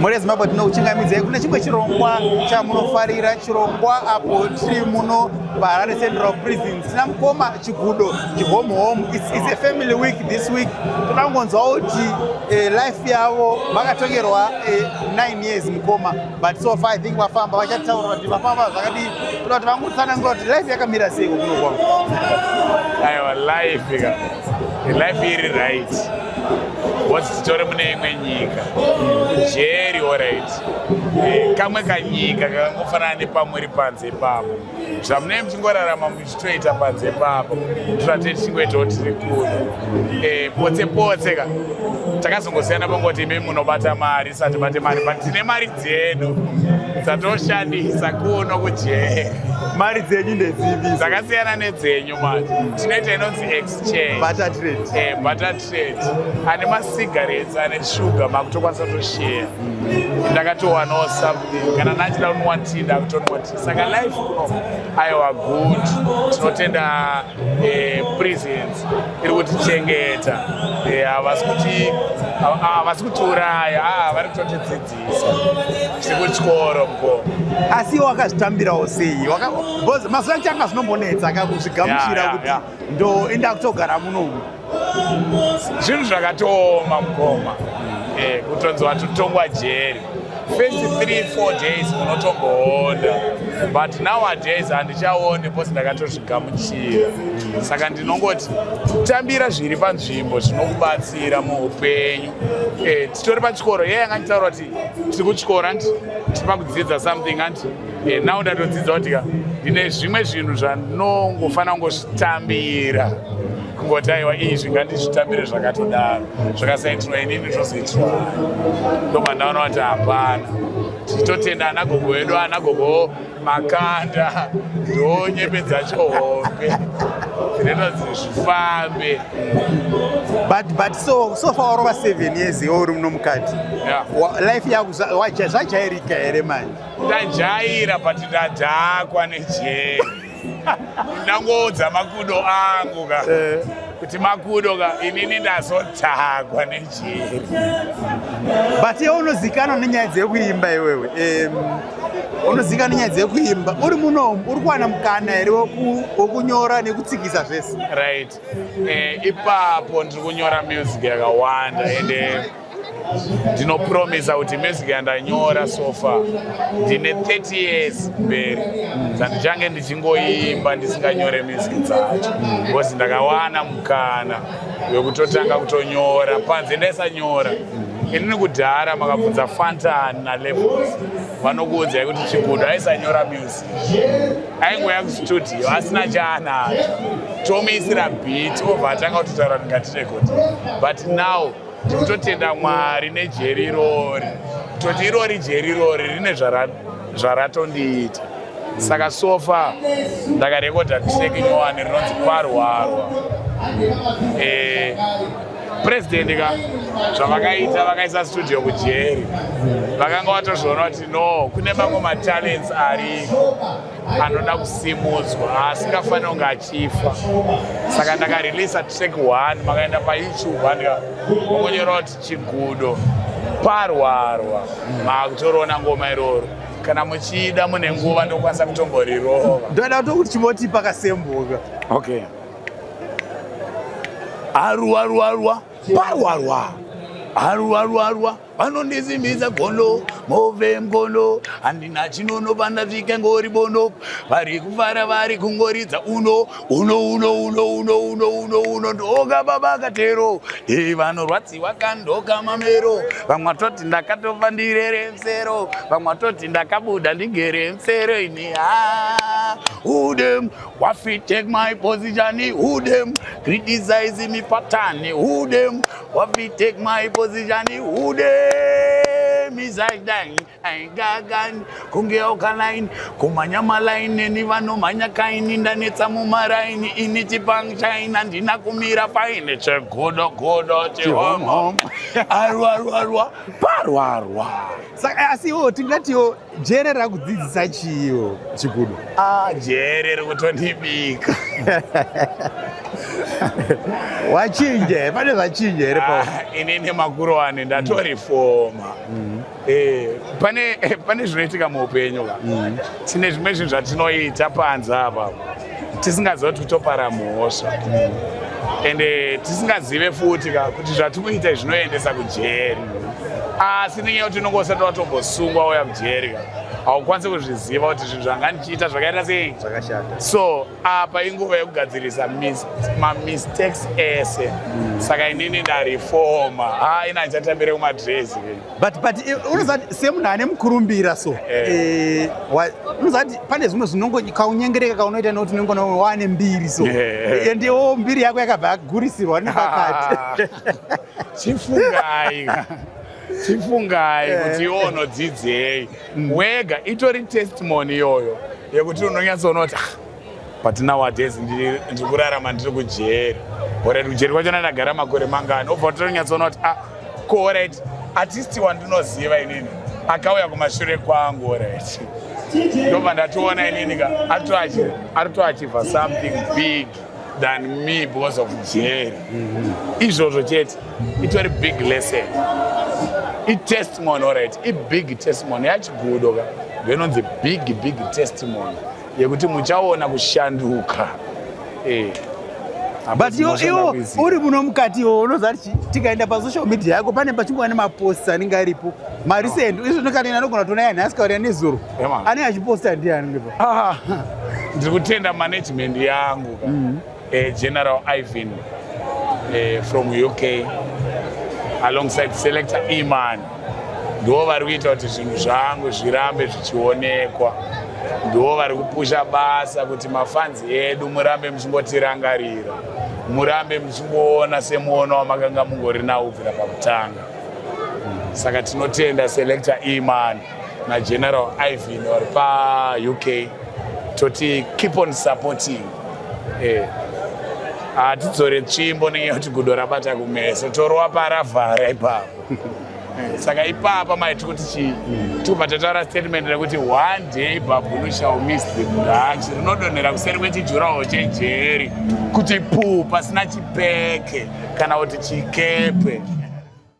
Mhuri yeZimbabwe tinokuchingamidzai kune chimwe chirongwa chamunofarira, chirongwa apo tiri muno paHarare Central Prison tina mukoma Chigudo chihome home. It's, it's a family week this week. Toda kungonzwawo kuti eh, life yavo vakatongerwa eh, 9 years mukoma but so far I think vafamba vachataura kuti vafamba zvakadii. Toda kuti vangotsanangura kuti life yakamira sei kuno kwavo. Aiwa life ka. life iri right woti titore mune imwe nyika kujeri orit eh, kamwe kanyika kakangofanana nepamuri panze pavo zvamunei muchingorarama muchitoita panze pavo totate tichingoitawo tiri kuno eh, potse potse ka takazongosiyana pangoti imi munobata mari satibate mari but tine mari dzedu dzatoshandisa kuno kujeri mari dzenyu ndedzivi dzakasiyana nedzenyu tinoita inonzi exchangebutter eh, trade ane masigarets ane shuga makutokwanisa kutosheya ndakatowanawo something kana ndachida kunwa tii ndakutonwa tii saka life kuno aiwa good tinotenda eh, presence iri kutichengeta eh, havasi kutiuraya ah, vari kutotidzidzisa chekuchikoro mko asi iwo wakazvitambirawo sei bcause mazuva changa zvinombonetsa akakuzvigamuchira kuti ndoenda kutogara munomu zvinhu zvakatooma mukoma eh, kutonzi watotongwa jeri first three four days unotongoona but nowadays handichaone bcause ndakatozvigamuchira saka ndinongoti tambira zviri panzvimbo zvinokubatsira muupenyu eh, titori pachikoro ye yanga nditaura kuti tiri kuchikoro andi tipa kudzidza something andi eh, now ndatodzidza kuti ka ndine zvimwe zvinhu zvanongofanira kungozvitambira kungoti aiwa izvi ngandizvitambire zvakatodaro zvakasaitirwa inini zvozoitirwa ndopandaona kuti hapana tichitotenda anagogo vedu anagogo makanda ndonyembe dzacho hombe dzinoita kuti zvifambe but but so so far warova seven years iwe uri muno mukati life yako zvajairika here manje ndajaira but ndadhakwa nejeri ndangoudza makudo angu ka eh. kuti makudo ka inini ndazodhakwa nejeri but iwe unozikanwa nenyaya dzekuimba iwewe unozikanwa nenyaya dzekuimba uri munomu uri kuwana mukana here wokunyora nekutsikisa zvese right eh, ipapo ndiri kunyora music yakawanda ende eh, ndinopromisa kuti music yandanyora sofa ndine 30 years mberi dzandichange ndichingoimba ndisinganyore music dzacho because ndakawana mukana wekutotanga kutonyora panze ndaisanyora inini kudhara makabvunza fantan nalevels vanokuudzai kuti chigudo aisanyora music aingouya kustudio asina chaanacho tomuisira bit obva atanga kutotaura ndingatirekodi but now Tiri kutotenda Mwari nejeri irori, toti irori jeri irori rine zvaratondiita saka sofa ndakarekodha track nyowani rinonzi kwarwarwa eh, president ka zvavakaita vakaisa studio kujeri vakanga vatozviona kuti no kune mamwe matalents ariko anoda kusimudzwa asingafanira kunge achifa saka ndakareleasa track one makaenda payoutube andika vakunyora kuti chigudo parwarwa makutorona ngoma iroro kana muchida mune nguva ndokwanisa kutomborirova ndoda kuto kuti chimoti pakasembuka okay aruwa ruwa ruwa parwarwa aruwa ruwa ruwa vanondisimbisa gono move mgono handina chinono pandasvika ngori bono vari kufara vari kungoridza uno uno uno uno uno uno uno uno ndoka baba katero e vanorwadziwa kandoka mamero vamwe vatoti ndakatofa ndirere msero vamwe vatoti ndakabuda ndigere msero ini ha udem wafi take my position udem criticize me patani udem Wapi take my position hude mizaidain aigagain kunge okalain kumhanya malain neni vanomhanya kaini ndanetsa mumaraini ini chipangshain handina kumira paine chegodo godo chihomhom arwarwarwa parwarwa saka eh, asi iwo tingatiwo Jere rakudzidzisa chiyo chikudu. Ah, jere rikutondibika. Wachinja here? Pane zvachinja here pa? Ah, ini nemakuru ane ndatorifoma. Mm. Mm. Eh, pane eh, pane zvinoitika muupenyu ka. Mm. Tine zvimwe zvinhu zvatinoita panze apa. tisingaziva kuti topara mhosva ende tisingazive futi ka kuti zvatikuita izvi zvinoendesa kujeri asi nenyaya yekuti unenge usati watombosungwa wauya kujeri ka haukwanisi kuzviziva kuti zvinhu zvanga ndichiita zvakaita sei zvakashata so apa inguva yekugadzirisa mamistakes ese saka inini ndarifoma ha ina ndichatambire kumadresi but but eh, unozati semunhu ane mukurumbira so eh. Eh, unozati pane zvimwe zvinongo kaunyengereka kaunoita nekuti unenge unawe waane mbiri so endewo mbiri yako yakabva yagurisirwa nepakati chifungai chifungai kuti iwo unodzidzei mm. wega itori testimony iyoyo yekuti unonyatsoona kuti ah, but nowadays ndiri kurarama ndiri kujeri orit kujeri kwacho ndandagara makore mangani obva totonyatsoona kuti a ah, ko orit atisti wandinoziva inini akauya kumashure kwangu orit ndobva ndatoona inini ka ari toachivha something big than me because of jeri mhm. izvozvo chete itori big lesson itestimony orit ibig testimony yachigudo ka ndinonzi big big testimony yekuti muchaona kushanduka eh. but iwo iwo uri muno mukati iwo unoziva kuti tikaenda pasocial media yako pane pachingova nemaposts anenge aripo marecent izvo ndokati anogona kutoona yani asikaurira nezuro anenge achiposta ndiani ah, ndiri kutenda management yangu mm. Uh, General Ivan uh, from UK alongside selector Iman ndivo vari kuita kuti zvinhu zvangu zvirambe zvichionekwa ndivo vari kupusha basa kuti mafanzi edu murambe muchingotirangarira murambe muchingoona semuono wamakanga mungori nawo kubvira pakutanga saka tinotenda selector Iman nageneral ivin vari pauk toti keep on supporting eh, hatidzore eh. tsvimbo nenyaya yekuti gudo rabata kumeso torowa paravhara ipapo eh, saka ipapa mai tiri kuti chii tikupa tataura statement rekuti one day babunu shall miss the branch rinodonhera kuseri kwechijurawo chejeri kuti puu pasina chipeke kana kuti chikepe